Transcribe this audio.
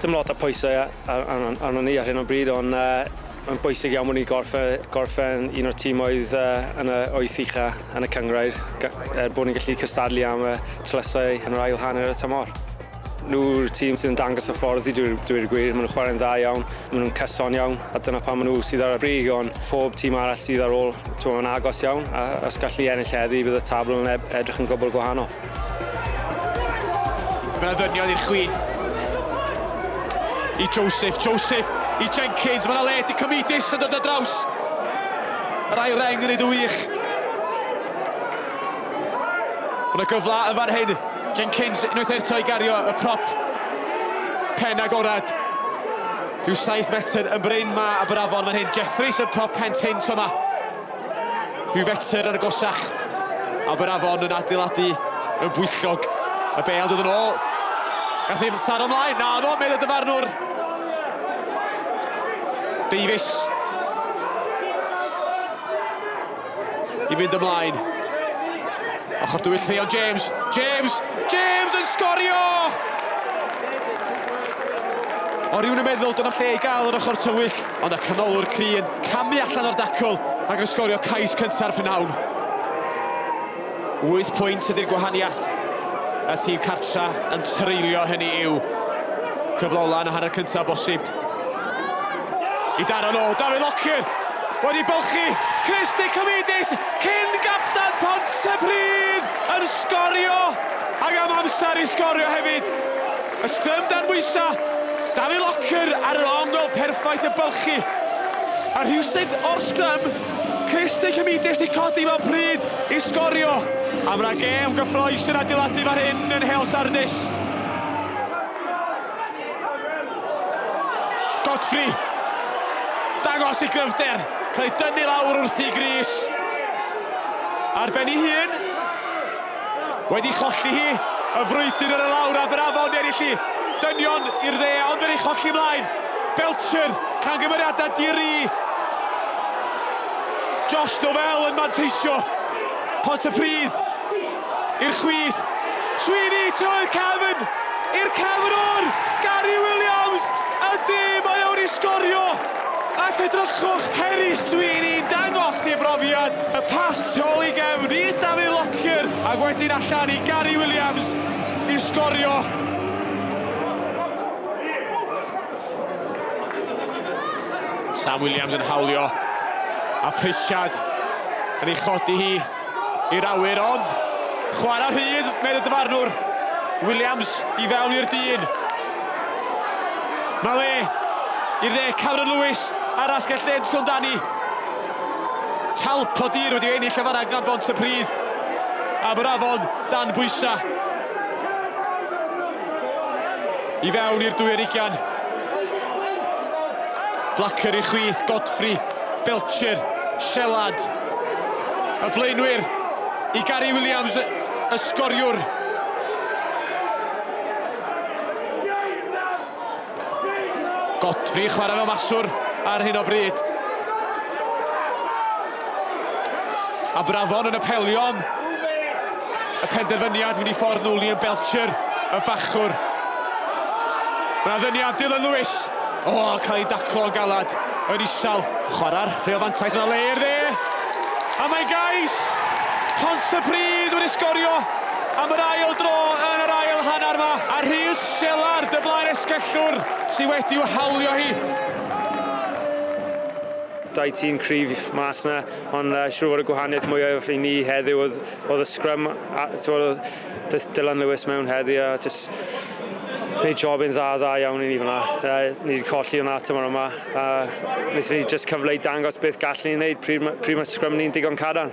Dim lot o pwysau ar- arno- arnon ni ar hyn o bryd ond yy mae'n bwysig iawn bod ni'n gorffau- gorffen un o'r tîmoedd yy yn y wyth ucha' yn y cynghrair ga- er bod ni'n gallu cystadlu am y tlysau yn yr ail hanner y tymor. Nhw'r tîm sydd yn dangos y ffordd i dweud dweud y gwir ma' nhw'n chwarae'n dda iawn ma' nhw'n cyson iawn a dyna pam ma' nhw sydd ar y brig ond pob tîm arall sydd ar ôl t'mo' yn agos iawn a os gallu ennill heddi bydd y tabl yn ed- edrych yn gwbwl gwahanol. Mae'n addyrniad i'r chwith. I Joseph, Joseph, i Jenkins, mae'n aled i Cymidus yn dod o draws. Yr ail reng yn ei dy wych. Mae'n y gyfla yn fan hyn. Jenkins unwaith eto i gario y prop pen agorad. Rhyw 7 metr yn bryn ma a brafon fan hyn. Jeffries yn prop pen tyn tro ma. Rhyw fetr ar y gosach. Aberafon yn adeiladu yn bwyllog. Y bel dod yn ôl. Gath ei tharo ymlaen. Na ddo, meddwl dyfarnwr. Davies. I fynd ymlaen. Ochr dwyll Llion James. James! James yn sgorio! O rhywun yn meddwl dyna lle i gael yr ochr tywyll. Ond y canolwr cry yn camu allan o'r dacl ac yn sgorio cais cynta'r prynhawn. Wyth pwynt ydy'r gwahaniaeth. Y tîm cartra yn treulio hynny i'w cyflola yn y hanner cyntaf bosib. I daro nôl, Dafydd Lockyer wedi bylchu Chris Nicomedes, cyn gapten Pontypridd yn sgorio ac am amser i sgorio hefyd. Y sgrym dan bwysa'. Dafydd Locker ar yr ongl perffaith y bylchu. A rhywsut o'r sgrym, Chris De Cymidis i codi mewn pryd i sgorio. A fydda gêm gyffroes yn adeiladu fan hyn yn Nheol Sardis. Godfrey. Dangos i gryfder. Cael ei dynnu lawr wrthi Gris. Ar ben ei hun. Wedi cholli hi, y frwydr ar y lawr a Bravo yn ennill hi. Dynion i'r dde, ond wedi cholli ymlaen. Belcher, cangymeriadau di-ri. Josh Novell yn manteisio. Pont y Pridd i'r chwith. Sweeney trwy'r cefn i'r cefn o'r Gary Williams. Ydy, mae o'n i sgorio. Ac edrychwch, Cerys, dwi i ni'n dangos i brofiad, y pass tu ôl i gefn i Dafydd Lockyer ac wedyn allan i Gary Williams i sgorio. Sam Williams yn hawlio a Pritchard yn ei chodi hi. I'r awyr ond chwarae rhydd, medd y dyfarnwr. Williams i fewn i'r dyn. Mae le i'r dde Cameron Lewis ar asgell dde'n Llondani. Talp o dir wedi ennill y fanna gan bont y pridd. A mae'r afon dan bwysa. I fewn i'r dwy erigian. Blacker i chwith, Godfrey, Belcher, Shelad. Y blaenwyr i Gary Williams, y sgoriwr. Godfrey chwarae fel maswr ar hyn o bryd. A Brafon yn apelio am y penderfyniad fynd i ffordd nhw, Liam Belcher, y bachwr. Mae yna ddyniad Dylan Lewis. O, cael ei daclo o galad, yr isal. Chwarae'r rheol fantais yna le i'r dde. A mae Gais Pontypridd wedi sgorio am yr ail dro yn yr ail hanner yma. A Rhys Shelard, y blaen esgellwr, sydd wedi'w hawlio hi. Dau tîm cryf mas yna, ond siŵr fod y gwahaniaeth mwyaf i ni heddiw oedd y scrum. Daeth Dylan Lewis mewn heddi a just wneud job yn dda, dda iawn i ni fyna. Uh, ni wedi colli hwnna tymor yma. A wnaethon ni just cyfle i dangos beth gallwn ni'n wneud pryd, pryd mae sgrym ni'n digon cadarn.